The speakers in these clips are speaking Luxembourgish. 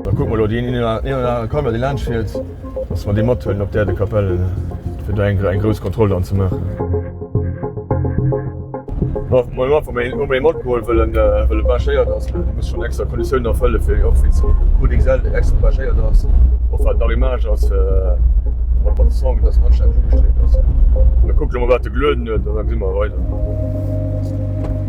Da kuck mol do deen een oder anere Camion dee laanscht fiert, dass mer dee mathuelen op d'Aire de Capelle fir do eng grouss Kontroll dann ze maachen. Bon, ech hunn einfach mol ee matgeholl, well e bagéiert ass. E muss schonn extra Konditiounen erfëlle fir och fir zu Boudéngsel extra bagéiert ass. Och wat nach Image ass mat mat Son, fir dass en anstänneg ugestreet ass. Mir kucke mol wat e gelueden huet an da gesi mer weider.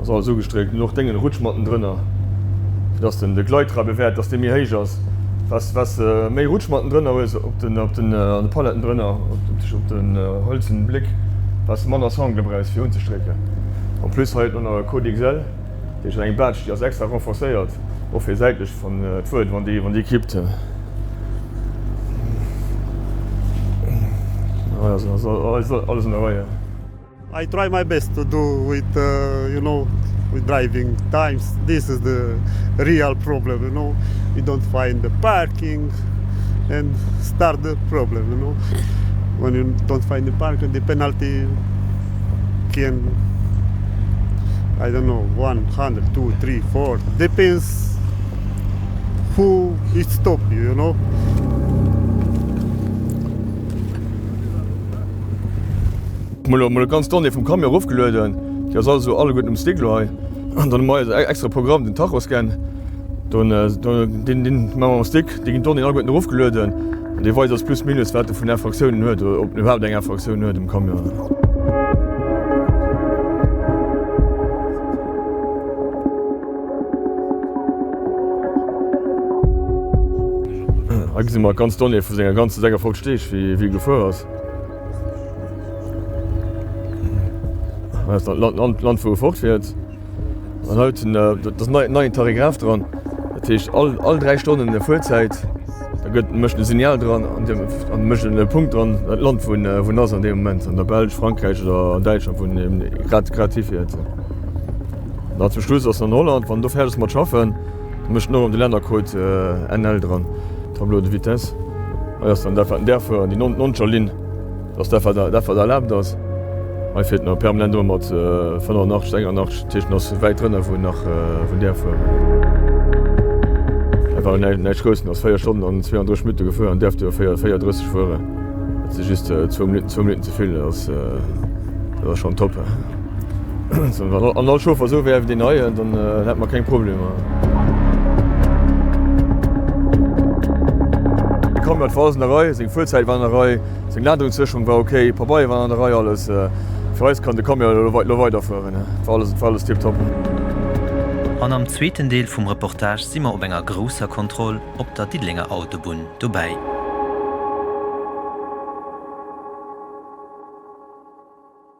Ass alles ugestréckt an och dengen Rutsch matten drënner fir dass den de Gleittrap e Wert dass dee méi héich ass wats wats de méi Rutsch matten drënner hues op den op den an de Paletten drënner op de op den hëlzen Bléck wats de manner Sangle brauchs fir unzestrécken. En plus hei huet mer nach e Code XL dee huet eng Baatsch déi ass extra renforcéiert och fir säitlech wann et wuert wann déi wann déi kippt. Hei ass alles an der Reihe. I try my best to do it you know with driving times this is the real problem you know you don't find the parking and start the problem you know when you don't find the park and the penalty can I don't know 100 two three four depends who it stop you you know. Mol mol ganz d'Donnée vum Camion erof gelueden, déi ass also alleguerten um Stick lo hei. An dann hu mer eise extra Programm, den Tachoscan. Don deen deen hu mer um Stick, do ginn d'Donnéeën alleguerten erof gelueden an dee weist eis plus minus wat e vun Infractiounen huet, oder ob en iwwerhaapt eng Infraktioun huet, den Camion. Hei gesi mer ganz d'Donnée vu senger ganze 56 Deeg wéi e gefuer ass. D'Land wou e fort fiert. An haut hunn dës neien Tarigraf dran. Dat heescht all 3 Stonnen e Fuerzäit. Da gëtt mécht e Signal dran an Dir an mécht e Punkt dran dat Land vun wou ass an deem Moment an der Belsch, Frankräich oder an Däitschland vun deem grad grad hifiert. An zum Schluss ass dann Holland, wann do fäerdeg ass mat schaffen. Mécht den Owen de Lännercode NL dran, Tableau de vitesse. Hei ass dann dat wat en däerf fueren, déi noncher Linn ass dat wat erlaabt ass. Hei feelt nach e permanent ëmmer mat 85, 81, dat heescht en ass wäit drënner wou en nach däerf fueren. Hei war en näischt grouss, en ass 4 Stonnen an 32 Minutte gefuer an däerf duerfir 4,30 fueren. Dat si just zwou Minutten zevill, dat ass schonn top. Wann all Chauffer esou wär ewéi deen neien, dann hätt mer keng Problemer. Camert war an der Rei, seng Fuerzäit war an der Rei, seng Ladungssécherung war ok, d'Pabeier waren an der Rei, alles. Fir eis kann de Camion elo weider, elo weiderfueren. Et war alles, et war alles tiptop. An am zweeten Deel vum Reportage si mer op enger grousser Kontroll op der Diddelenger Autobunn dobäi.